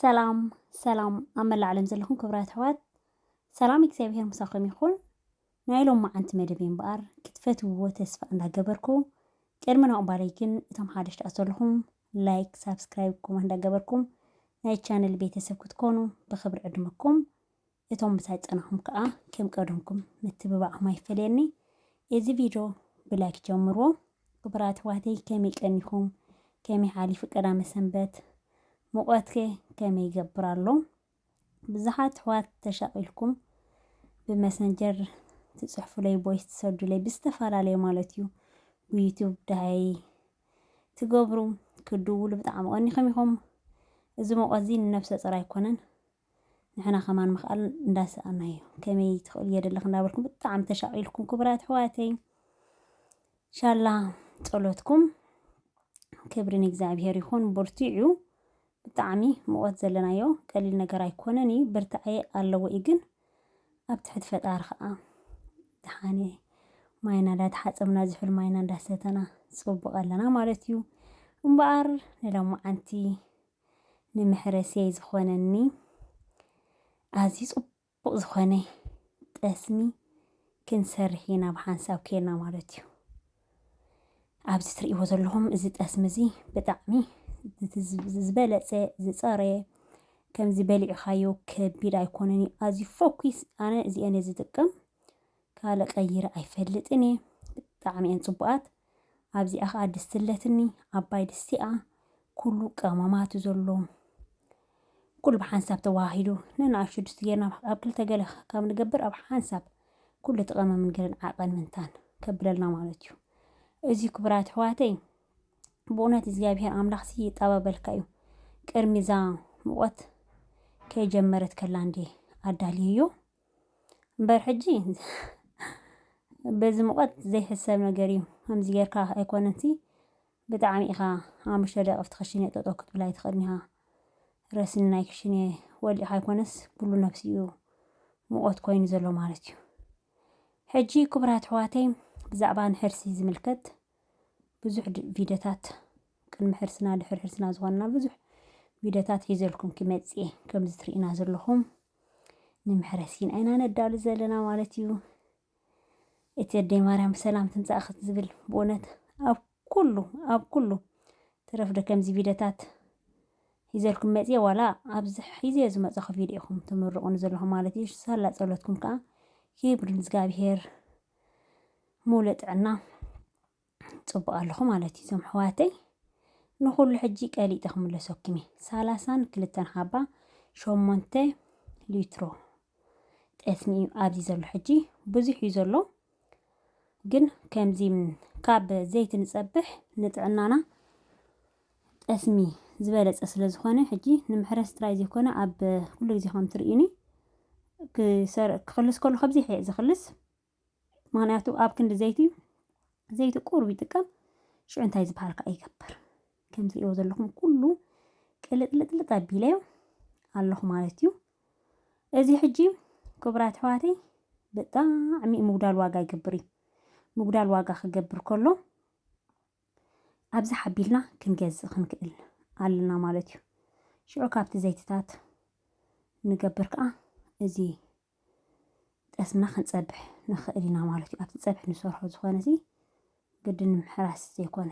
ሰላም ሰላም ኣብ መላእ ዓለም ዘለኹም ክብራት ኣሕዋት ሰላም እግዚኣብሄር ምሳኹም ይኹን። ናይ ሎማዓንቲ መደበይ እምበኣር ክትፈትውዎ ተስፋ እንዳገበርኩ ቅድሚ ናቕባለይ ግን እቶም ሓደሽቲ ኣት ዘለኹም ላይክ ሳብስክራይብ ኮመንት እንዳገበርኩም ናይ ቻነል ቤተሰብ ክትኮኑ ብኽብሪ ዕድመኩም እቶም ምሳይ ጸናኹም ከኣ ከም ቀደምኩም ምትብባዕኹም ኣይፈለየኒ እዚ ቪድዮ ብላይክ ጀምርዎ ክቡራት ኣሕዋተይ ከመይ ቀኒኹም ከመይ ሓሊፉ ቀዳመ ሰንበት ሙቐትከ ከመይ ይገብር ኣሎ ብዙሓት ኣሕዋት ተሻቂልኩም ብመሰንጀር ትጽሕፉለይ ቦይስ ትሰርዱለይ ብዝተፈላለዩ ማለት እዩ ብዩቱብ ዳሃይ ትገብሩ ክድውሉ ብጣዕሚ ቀኒኹም ኢኹም እዚ ሞቆት እዚ ንነብሰ ጾር ኣይኮነን ንሕና ከማን ምኽኣል እንዳሰኣናዮ ከመይ ትኽእሉ የደለኽ እንዳበልኩም ብጣዕሚ ተሻቂልኩም ክቡራት ኣሕዋተይ ሻላ ጸሎትኩም ክብሪ ንእግዚኣብሔር ይኹን ብርትዑ ብጣዕሚ ሙቀት ዘለናዮ ቀሊል ነገር ኣይኮነን እዩ ብርታዐ ኣለዎ እዩ ግን ኣብ ትሕቲ ፈጣሪ ከኣ ድሓነ ማይና እንዳተሓጸብና ዝሑል ማይና እንዳሰተና ጽቡቅ ኣለና ማለት እዩ እምበኣር ንሎማዓንቲ ንምሕረስየይ ዝኾነኒ ኣዝዩ ጽቡቅ ጽቡቅ ዝኮነ ጠስሚ ክንሰርሕ ኢና ብሓንሳብ ኬና ማለት እዩ። ኣብዚ ትርእይዎ ዘለኹም እዚ ጠስሚ እዚ ብጣዕሚ ዝበለጸ ዝጸረየ ከምዚ በሊዕኻዮ ከቢድ ኣይኮነን እዩ ኣዝዩ ፎኪስ ኣነ እዚኤን እየ ዝጥቀም ካልእ ቀይረ ኣይፈልጥን እየ ብጣዕሚ እየን ጽቡቃት ኣብዚኣ ከኣ ድስቲ ኣለትኒ ዓባይ ድስቲ እያ ኩሉ ቀመማት ዘሎ ኩሉ ብሓንሳብ ተዋሂዱ ነንኣሽቱ ድስቲ ጌርና ኣብ ክልተ ገለ ካብ ንገብር ኣብ ሓንሳብ ኩሉ እቲ ቀመምን ገለን ዓቐን ምንታን ከብለልና ማለት እዩ እዚ ክብራት ኣሕዋተይ ብእውነት እግዚኣብሔር ኣምላኽ ሲ ይጣበበልካ እዩ ቅድሚ እዛ ሙቐት ከይጀመረት ከላ እንዴ ኣዳልየዮ እምበር ሕጂ በዚ ሙቐት ዘይሕሰብ ነገር እዩ ከምዚ ጌርካ ኣይኮነንሲ ብጣዕሚ ኢኻ ሓሙሽተ ደቂ ኣብቲ ክሽነ ጠጠው ክትብል ኣይትኽእልን ኢኻ ረስኒ ናይ ክሽነ ወሊዕካ ኣይኮነስ ኩሉ ነብሲ እዩ ሙቐት ኮይኑ ዘሎ ማለት እዩ ሕጂ ክቡራት ኣሕዋተይ ብዛዕባ ንሕርሲ ዝምልከት ብዙሕ ቪድዮታት ቅድሚ ሕርስና ድሕሪ ሕርስና ዝኾንና ብዙሕ ቪድዮታት ሒዘልኩም ክመጽእ እየ ከምዚ ትርእዩና ዘለኹም ንምሕረስ ኢና ኢና ነዳሉ ዘለና ማለት እዩ እቲ ኣደይ ማርያም ሰላም ትምፃእ ክትዝብል ብእውነት ኣብ ኩሉ ኣብ ኩሉ ትረፍዶ ከምዚ ቪድዮታት ሒዘልኩም መፅየ ዋላ ኣብዚ ሒዘ ዝመፀኹ ቪድዮ ኢኹም ትምርቑኒ ዘለኹም ማለት እዩ ሳላ ፀሎትኩም ከዓ ክብሪ ንእግዚኣብሄር ሙሉእ ጥዕና ፅቡቅ ኣለኹ ማለት እዩ እዞም ኣሕዋተይ ንኹሉ ሕጂ ቀሊጠ ክምለሰኩም እየ ሰላሳን ክልተን ሃባ ሸሞንተ ሊትሮ ጠስሚ እዩ ኣብዚ ዘሎ ሕጂ ብዙሕ እዩ ዘሎ ግን ከምዚ ካብ ዘይቲ ንፀብሕ ንጥዕናና ጠስሚ ዝበለጸ ስለ ዝኾነ ሕጂ ንምሕረስ ጥራይ ዘይኮነ ኣብ ኩሉ ግዜ ከም ትርእዩኒ ክሰር ክኽልስ ከሎ ከምዚ ሕየ ዝኽልስ ምክንያቱ ኣብ ክንዲ ዘይቲ ዘይቲ ቁሩብ ይጥቀም ሽዑ እንታይ ዝበሃል ከዓ ይገብር ከም ትርእይዎ ዘለኹም ኩሉ ቅልጥልጥልጥ ኣቢለዮ ኣለኹ ማለት እዩ እዚ ሕጂ ክቡራት ኣሕዋተይ ብጣዕሚ ምጉዳል ዋጋ ይገብር እዩ ምጉዳል ዋጋ ክገብር ከሎ ኣብዚ ሓቢልና ክንገዝእ ክንክእል ኣሎና ማለት እዩ። ሽዑ ካብቲ ዘይትታት ንገብር ከኣ እዚ ጠስምና ክንጸብሕ ንኽእል ኢና ማለት እዩ። ኣብቲ ጸብሒ ንሰርሖ ዝኾነሲ ግድን ንምሕራስ ዘይኮነ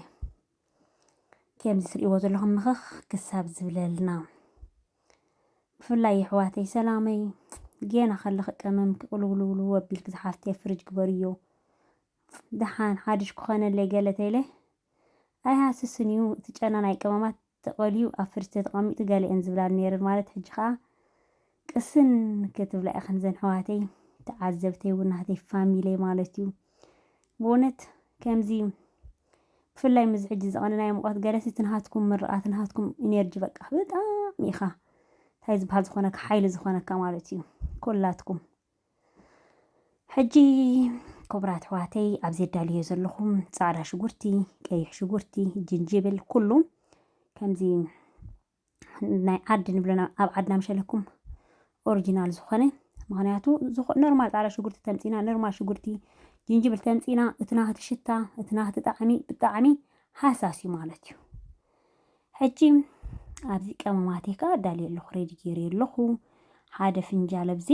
ከምዚ ትርእይዎ ዘለኹም ምኽኽ ክሳብ ዝብለልና ብፍላይ የሕዋተይ ሰላመይ ጌና ከለኺ ቀመም ክቕልውልውልው ኣቢልኪ ዝሓፍተይ ፍርጅ ግበርዮ ደሓን ሓዱሽ ክኾነለይ ገለ ተይለ ኣይሃስስን እዩ እቲ ጨና ናይ ቀመማት ተቐልዩ ኣብ ፍሪጅ ተተቐሚጡ ገለየን ዝብላኒ ነይረን ማለት ሕጂ ከኣ ቅስን ክትብላ ኢኽን ዘን ሕዋተይ ተዓዘብተይ እውን ናህተይ ፋሚለይ ማለት እዩ ብእውነት ከምዚ ብፍላይ ምዚ ሕጂ ዘቐንናዮ ሙቐት ገለሲ እቲ ናሃትኩም ምርቓት ናሃትኩም ኢነርጂ በቃ ብጣዕሚ ኢኻ እንታይ ዝበሃል ዝኾነካ ሓይሊ ዝኾነካ ማለት እዩ ኮላትኩም ሕጂ ክቡራት ኣሕዋተይ ኣብዚ ኣዳልዮ ዘለኹም ፃዕዳ ሽጉርቲ፣ ቀይሕ ሽጉርቲ፣ ጅንጅብል ኩሉ ከምዚ ናይ ዓዲ ንብሎ ኣብ ዓድና ምሸለኩም ኦሪጂናል ዝኾነ ምክንያቱ ኖርማል ፃዕዳ ሽጉርቲ ተምፂና ኖርማል ሽጉርቲ ጅንጅብል ተምፂና እቲ ናህቲ ሽታ እቲ ናህቲ ጣዕሚ ብጣዕሚ ሃሳስ እዩ ማለት እዩ ሕጂ ኣብዚ ቀመማተይ ከኣ ኣዳልየ ኣለኹ ሬዲ ገይረዮ ኣለኹ ሓደ ፍንጃል ኣብዚ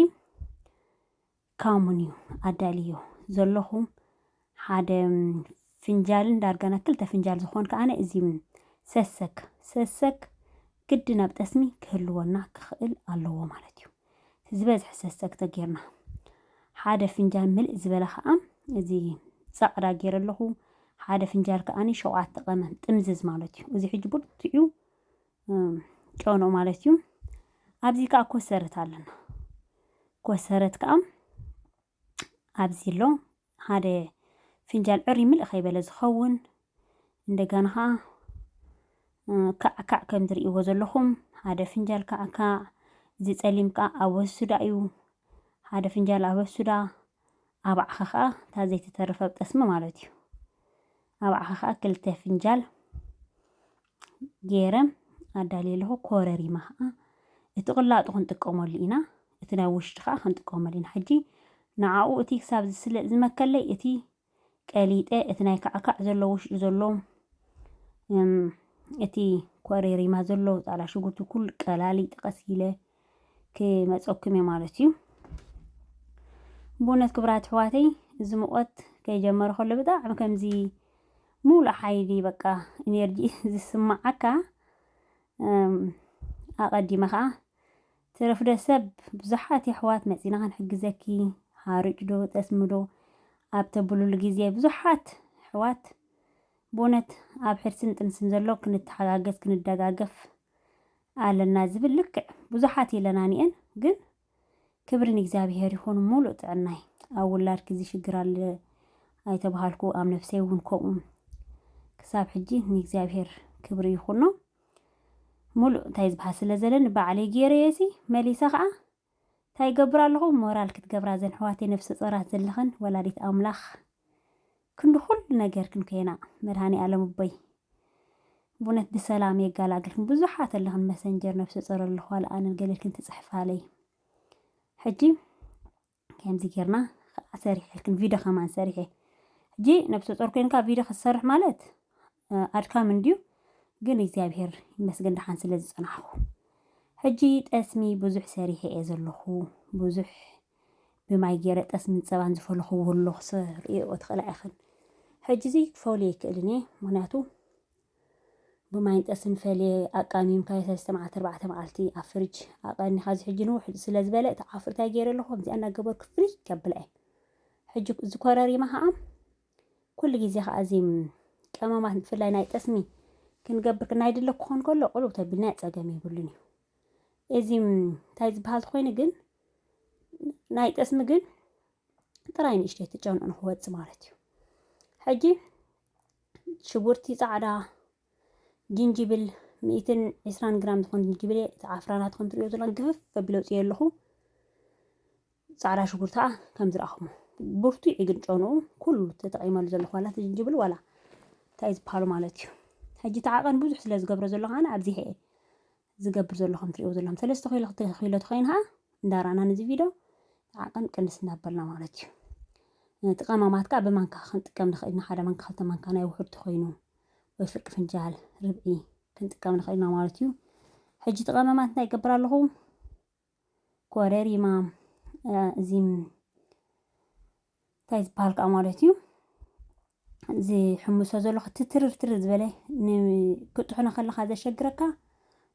ካሙን እዩ ኣዳልዮ ዘለኹ ሓደ ፍንጃልን ዳርጋና ክልተ ፍንጃል ዝኾን ከኣ እዚ ሰሰክ ሰሰክ ግድን ኣብ ጠስሚ ክህልወና ክኽእል ኣለዎ ማለት እዩ ዝበዝሐ ሰሰግተ ጌርና ሓደ ፍንጃል ምልእ ዝበለ ከኣ እዚ ጸቕዳ ጌረ ኣለኹ ሓደ ፍንጃል ከኣኒ ሸውዓተ ቀመም ጥምዝዝ ማለት እዩ እዚ ሕጂ ብርትዑ ጨኖ ማለት እዩ ኣብዚ ከኣ ኮሰረት ኣለና ኮሰረት ከኣ ኣብዚ ኣሎ ሓደ ፍንጃል ዕርይ ምልእ ከይበለ ዝኸውን እንደጋና ኸዓ ካዕካዕ ከም ዝርእይዎ ዘለኹም ሓደ ፍንጃል ካዕካዕ እዚ ጸሊም ከዓ ኣበሱዳ እዩ ሓደ ፍንጃል ኣበሱዳ ኣብዓኸ ከዓ እታ ዘይተተረፈ ጠስሚ ማለት እዩ ኣብዓኸ ከዓ ክልተ ፍንጃል ገይረ ኣዳልየ ኣለኹ። ኮረሪማ ኸዓ እቲ ቅላጡ ክንጥቀመሉ ኢና፣ እቲ ናይ ውሽጢ ኸዓ ክንጥቀመሉ ኢና። ሕጂ ንዓኡ እቲ ክሳብ ዝስለ ዝመከለይ እቲ ቀሊጠ እቲ ናይ ካዕካዕ ዘሎ ውሽጡ ዘሎ እቲ ኮረሪማ ዘሎ ጻዕዳ ሽጉርቲ ኩሉ ቀላሊጠ ቀስ ኢለ ክመፀኩም እየ ማለት እዩ ብእውነት ክብራት ኣሕዋተይ እዚ ሙቐት ከይጀመረ ከሎ ብጣዕሚ ከምዚ ሙሉእ ሓይሊ በቃ ኢነርጂ ዝስማዓካ ኣቐዲመ ከዓ ትረፍደ ሰብ ብዙሓት የሕዋት መፂና ክንሕግዘኪ ሓርጭ ዶ ጠስሚ ዶ ኣብ ተብሉሉ ግዜ ብዙሓት ኣሕዋት ብእውነት ኣብ ሕርስን ጥንስን ዘሎ ክንተሓጋገዝ ክንደጋገፍ ኣለና ዝብል ልክዕ ብዙሓት የለናንየን ግን ክብሪ ንእግዚኣብሄር ይኹን ሙሉእ ጥዕናይ ኣብ ውላድኪ እዚ ሽግር ኣለ ኣይተባሃልኩ ኣብ ነፍሰይ እውን ከምኡ ክሳብ ሕጂ ንእግዚኣብሄር ክብሪ ይኹኖ ሙሉእ እንታይ ዝበሃል ስለ ዘለኒ ባዕለይ ገይረየሲ መሊሰ ከዓ ታይ ይገብር ኣለኹ ሞራል ክትገብራ ዘን ኣሕዋተይ ነብሰ ፆራት ዘለኽን ወላዲት ኣምላኽ ክንዲ ኩሉ ነገር ክንኮና መድሃኒኣለም እቦይ ቡነት ብሰላም የጋላግልክን ብዙሓት ኣለኽን መሰንጀር ነብሰ ፆር ኣለኹ ኣልኣንን ገሌልክን ትፅሕፋለይ ሕጂ ከምዚ ጌርና ከዓ ሰሪሐልክን ቪድዮ ከማን ሰሪሐ ሕጂ ነብሰ ፆር ኮይንካ ቪድዮ ክትሰርሕ ማለት ኣድካሚ እንድዩ ግን እግዚኣብሄር ይመስገን ደሓን ስለ ዝጸናሕኩ። ሕጂ ጠስሚ ብዙሕ ሰሪሐ እየ ዘለኹ፣ ብዙሕ ብማይ ጌረ ጠስምን ጸባን ዝፈለኹዎ ኣሎ ክትርእይኦ ትኽእላ ኢኽን። ሕጂ'ዚ ክፈልዮ ኣይክእልን እየ ምኽንያቱ ብማይን ጠስን ፈልየ ኣቃሚምካዮ ሰለስተ መዓልቲ ኣርባዕተ መዓልቲ ኣብ ፍርጅ ኣቐኒኻ እዚ ሕጂ ንውሕ ስለ ዝበለ እቲ ዓፍርታይ ጌረ ኣለኹ ከምዚኣ እናገበርኩ ፍርይ ከብላ እየ። ሕጂ እዚ ኮረሪማ ከኣ ኩሉ ግዜ ከኣ እዚ ቀመማት ብፍላይ ናይ ጠስሚ ክንገብር ናይ ድለ ክኾን ከሎ ቁልው ተቢልና ጸገም የብሉን እዩ እዚ እንታይ ዝበሃል ኮይኑ ግን ናይ ጠስሚ ግን ጥራይ ንእሽተይ ትጨንኡ ንክወፅ ማለት እዩ ሕጂ ሽጉርቲ ፃዕዳ ጅንጅብል ሚእትን ዕስራን ግራም ዝኾን ጅንጅብል እየ እቲ ዓፍራ ናትኩም ትሪኦ ዘሎ ግፍፍ ከቢለ ውፅዮ ኣለኹ ፃዕዳ ሽጉርቲ ከዓ ከም ዝረኣኹሞ ብርቱዕ እዩ ግን ጨንኡ ኩሉ ተጠቒመሉ ዘለኹ ዋላ እቲ ጅንጅብል ዋላ እንታይ ዝበሃሉ ማለት እዩ ሕጂ እቲ ዓቐን ብዙሕ ስለ ዝገብሮ ዘለኹ ኣነ ኣብዚሐ እየ ዝገብር ዘሎ ከም ትሪእዎ ዘለኹም ሰለስተ ኪሎ ክልተ ኪሎ ተኾይኑ ኸዓ እንዳራእና ነዚ ቪድዮ ዓቐን ቅንስ እናበልና ማለት እዩ ነቲ ቀማማት ከዓ ብማንካ ክንጥቀም ንኽእል ኢና ሓደ ማንካ ክልተ ማንካ ናይ ውሑድ ተኾይኑ ወይ ፍርቂ ፍንጃል ርብዒ ክንጥቀም ንኽእል ኢና ማለት እዩ ሕጂ እቲ ቀመማት እንታይ ይገብር ኣለኹ ኮረሪማ እዚ እንታይ ዝበሃል ከዓ ማለት እዩ ዝሕምሶ ዘሎ ክትትርርትር ዝበለ ክጥሕኖ ከለካ ዘሸግረካ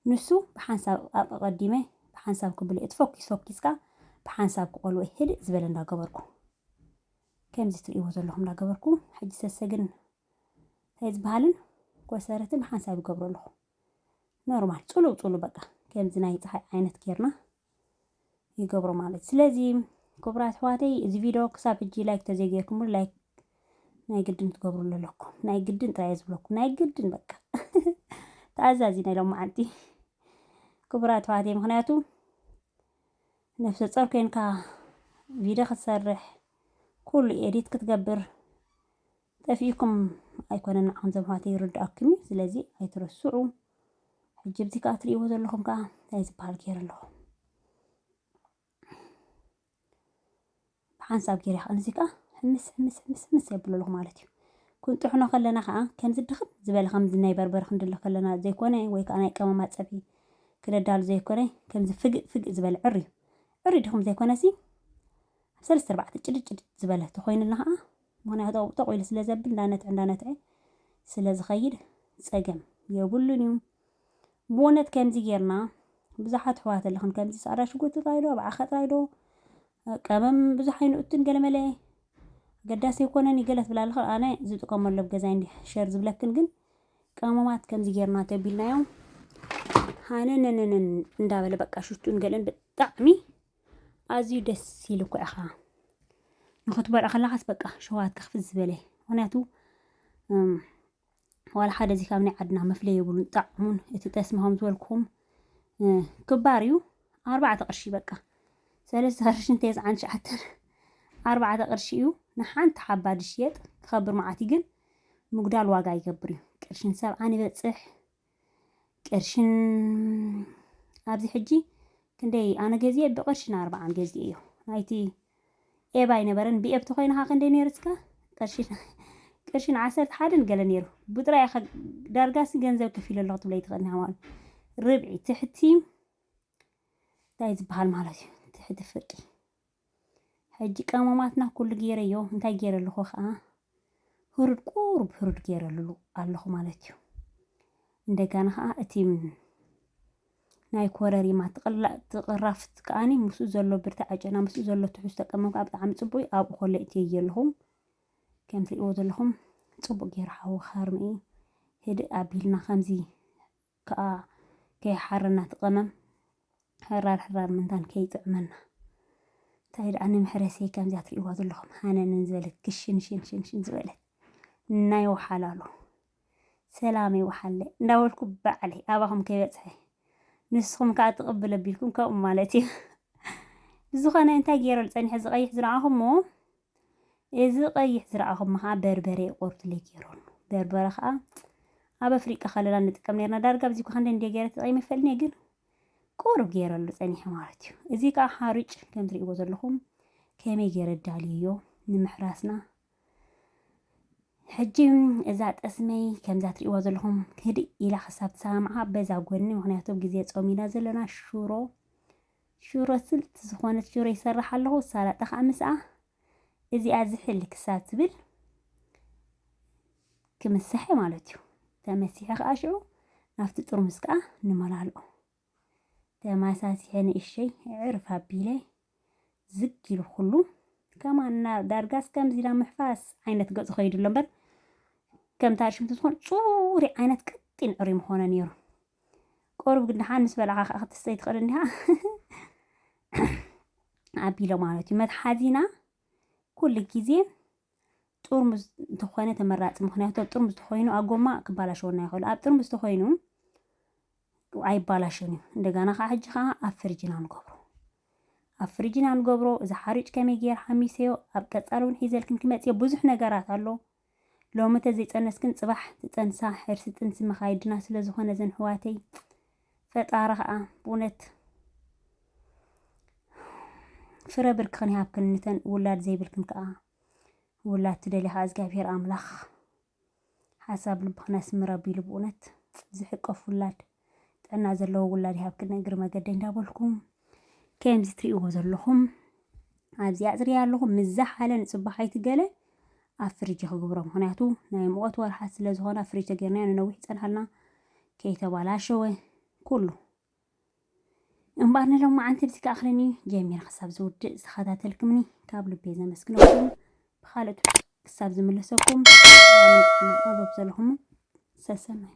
ንሱ ብሓንሳብ ኣቀቀዲመ ብሓንሳብ ክብሎ እቲ ፎኪስ ፎኪስካ ብሓንሳብ ክቆልወ ህድእ ዝበለ እንዳገበርኩ ከምዚ ትርእይዎ ዘለኹም እንዳገበርኩ ሕጂ ሰሰግን እንታይ ዝበሃልን ኮሰረትን ብሓንሳብ ይገብሮ ኣለኹ ኖርማል ጽሉው ጽሉው በቃ ከምዚ ናይ ፀሓይ ዓይነት ጌርና ይገብሮ ማለት ስለዚ ክቡራት ኣሕዋተይ እዚ ቪድዮ ክሳብ ሕጂ ላይክ ተዘይጌርኩምሉ ላይክ ናይ ግድን ትገብሩሉ ኣለኩም ናይ ግድን ጥራይ ዝብለኩም ናይ ግድን በቃ ተኣዛዚና ኢሎም መዓንቲ ክቡራት ኣሕዋተይ ምክንያቱ ነፍሰ ጾር ኮይንካ ቪድዮ ክትሰርሕ ኩሉ ኤዲት ክትገብር ጠፊእኩም ኣይኮነን ንዓኹም ዘማህተ ይርድኣኩም እዩ ስለዚ ኣይትረስዑ ሕጂ ብዚ ከኣ ትርእይዎ ዘለኹም ከኣ እንታይ ዝበሃል ገይረ ኣለኹ ብሓንሳብ ገይረ ከኣ እዚ ከኣ ሕምስ ሕምስ ሕምስ ሕምስ የብሎ ኣለኹ ማለት እዩ ክንጥሕኖ ከለና ከኣ ከምዚ ድኽም ዝበለ ከምዚ ናይ በርበረ ክንድለ ከለና ዘይኮነ ወይ ከኣ ናይ ቀመማ ፀብሒ ክነዳሉ ዘይኮነ ከምዚ ፍግእ ፍግእ ዝበለ ዕር እዩ ዕር ድኽም ዘይኮነ ሲ ኣብ ሰለስተ ኣርባዕተ ጭድጭድ ዝበለ ተኾይኑልና ከኣ ምክንያቱ ኣብኡ ጦቕ ኢሉ ስለ ዘብል እንዳነትዐ እንዳነትዐ ስለ ዝኸይድ ጸገም የብሉን እዩ። ብኡነት ከምዚ ጌርና ብዙሓት ኣሕዋት ኣለኽን ከምዚ ጻዕዳ ሽጉርቲ ጥራይ ዶ ኣብዓኸ ጥራይ ዶ ቀመም ብዙሕ ኣይንእቱን ገለመለ ኣገዳሲ ኣይኮነን ይገለ ትብላ ኣለኽን ኣነ ዝጥቀመሉ ኣብ ገዛይ እንዲ ሸር ዝብለክን ግን ቀመማት ከምዚ ጌርና ተቢልናዮም ሃነነነነን እንዳበለ በቃ ሽቱን ገለን ብጣዕሚ ኣዝዩ ደስ ኢሉ እኮ ኢኻ ንኽትበልዖ ከለኻስ በቃ ሸውሃትካ ክፍት ዝበለ ምክንያቱ ዋላ ሓደ እዚ ካብ ናይ ዓድና መፍለይ የብሉን ጣዕሙን እቲ ጠስሚ ከም ዝበልኩም ክባር እዩ ኣርባዕተ ቅርሺ በቃ ሰለስተ ቅርሽን ቴስዓን ትሽዓተን ኣርባዕተ ቅርሺ እዩ ንሓንቲ ሓባ ድሽየጥ ክኸብር መዓት ግን ምጉዳል ዋጋ ይገብር እዩ ቅርሽን ሰብዓን ይበፅሕ ቅርሽን ኣብዚ ሕጂ ክንደይ ኣነ ገዚኤ ብቅርሽን ኣርባዓን ገዚኤ እዮ ናይቲ ኤብ ኣይነበረን ብኤብ ተኮይንካ ክንደይ ነይሩ እስከ ቅርሽን ቅርሽን ዓሰርተ ሓደን ገለ ነይሩ ብጥራይ ኢኻ ዳርጋሲ ገንዘብ ከፊለ ኣለኹ ትብለይ ትኽእል ኢኻ ማለት ርብዒ ትሕቲ እንታይ ዝበሃል ማለት እዩ ትሕቲ ፍርቂ ሕጂ ቀመማትና ኩሉ ጌረዮ እንታይ ጌረ ኣለኹ ከኣ ህሩድ ቁሩብ ህሩድ ጌረሉ ኣለኹ ማለት እዩ እንደጋና ከኣ እቲ ናይ ኮረሪማ ትቕራፍት ከኣኒ ምስኡ ዘሎ ብርታ ዓጨና ምስኡ ዘሎ ትሕዝቶ ቀመም ከዓ ብጣዕሚ ፅቡቅ እዩ ኣብኡ ኮለ እትየየ ኣለኹም ከም ትሪእዎ ዘለኹም ፅቡቅ ገይሩ ሓዊ ከርሚ ህድእ ኣቢልና ከምዚ ከኣ ከይሓረና እቲ ቀመም ሕራር ሕራር ምንታን ከይጥዕመና እንታይ ደኣ ንመሕረሲየይ ከምዚኣ ትርእይዋ ዘለኹም ሃነንን ዝበለት ክሽንሽንሽንሽን ዝበለት ናይ ወሓላሉ ሰላመይ ወሓለ እንዳበልኩ ባዕለይ ኣባኹም ከይበጽሐ ንስኹም ከዓ ትቕብል ኣቢልኩም ከምኡ ማለት እዩ ብዝኾነ እንታይ ገይረ ዝጸኒሐ ዝቐይሕ ዝረኣኹሞ እዚ ቀይሕ ዝረኣኹሞ ከኣ በርበረ ዩ ቆርቱለይ ጌሮም በርበረ ከኣ ኣብ ኣፍሪቃ ከለና ንጥቀም ኔርና ዳርጋ ኣብዚ ክንዲ እንደ ጌረ ተጠቂመ ይፈልኔ ግን ቁሩብ ጌረሉ ጸኒሐ ማለት ዩ እዚ ከኣ ሓርጭ ከም ትርእይዎ ዘለኹም ከመይ ጌረ ዳልየዮ ንምሕራስና ሕጂ እዛ ጠስመይ ከምዛ ትርእይዋ ዘለኹም ህድእ ኢላ ክሳብ ትሰማምዓ በዛ ጎኒ ምክንያቱ ግዜ ጾም ኢና ዘለና ሽሮ ሽሮ ስልቲ ዝኾነት ሽሮ ይሰርሕ ኣለኹ፣ ሳላጣ ከኣ ምስኣ። እዚኣ ዝሕል ክሳብ ትብል ክምስሐ ማለት እዩ። ተመሲሐ ከኣ ሽዑ ናብቲ ጥርሙስ ከኣ ንመላልኦ። ተማሳሲሐ ንእሸይ ዕርፍ ኣቢለ ዝግ ኢሉ ኩሉ ከማና ዳርጋስ ከምዚ ኢላ ምሕፋስ ዓይነት ገጹ ከይዱ ኣሎ እምበር ከምታ ርሽምቲ ዝኾን ጽሩይ ዓይነት ቀጢን ዕሪ ምኾነ ነይሩ። ቁሩብ ግን ደሓን ምስ በላዕኻ ከኣ ክትስተይ ትኽእል እንዲኻ ኣቢሎ ማለት እዩ። መትሓዚና ኩሉ ግዜ ጥርሙዝ እንተኾነ ተመራፂ ምክንያቱ ኣብ ጥርሙዝ ተኾይኑ ኣብ ጎማ ክባላሸወና ይኽእሉ ኣብ ጥርሙዝ ተኾይኑ ኣይባላሽን እዩ እንደገና ከዓ ሕጂ ከዓ ኣብ ፍርጅና ንገብሮ ኣብ ፍርጅና ንገብሮ እዚ ሓርጭ ከመይ ገይር ሓሚሰዮ ኣብ ቀፃሊ እውን ሒዘልክን ክመፅዮ ብዙሕ ነገራት ኣሎ ሎሚ ተዘይፀነስክን ፅባሕ ትፀንሳ ሕርሲ ጥንሲ መኻይድና ስለዝኾነ ዘን ሕዋተይ ፈጣሪ ኸዓ ብእውነት ፍረ ብርክኽን ይሃብክን ንተን ውላድ ዘይብልክን ከዓ ውላድ ትደልያ ከዓ እግዚኣብሔር ኣምላኽ ሓሳብ ልብኽን ያስምር ኣቢሉ ብእውነት ዝሕቀፍ ውላድ ጥዕና ዘለዎ ውላድ ይሃብክን እግሪ መገደይ እንዳበልኩም ከምዚ ትሪእዎ ዘለኹም ኣብዚ ኣፅርያ ኣለኹ ምዛ ሓለ ንፅባሓይቲ ገለ ኣብ ፍርጅ ክግብሮ ምክንያቱ ናይ ሙቐት ወርሓት ስለ ዝኾነ ኣብ ፍርጅ ተገርናዮ ንነዊሕ ይፀንሓልና ከይተባላሸወ ኩሉ እምበኣር ንሎም መዓንቲ ብዚ ክኣኽለኒ ጀሚረ ክሳብ ዝውድእ ዝተኸታተልክምኒ ካብ ልቤ ዘመስግነኩም ብካልኦት ክሳብ ዝምለሰኩም ጥዕና ኣብ ዘለኹም ሰሰናይ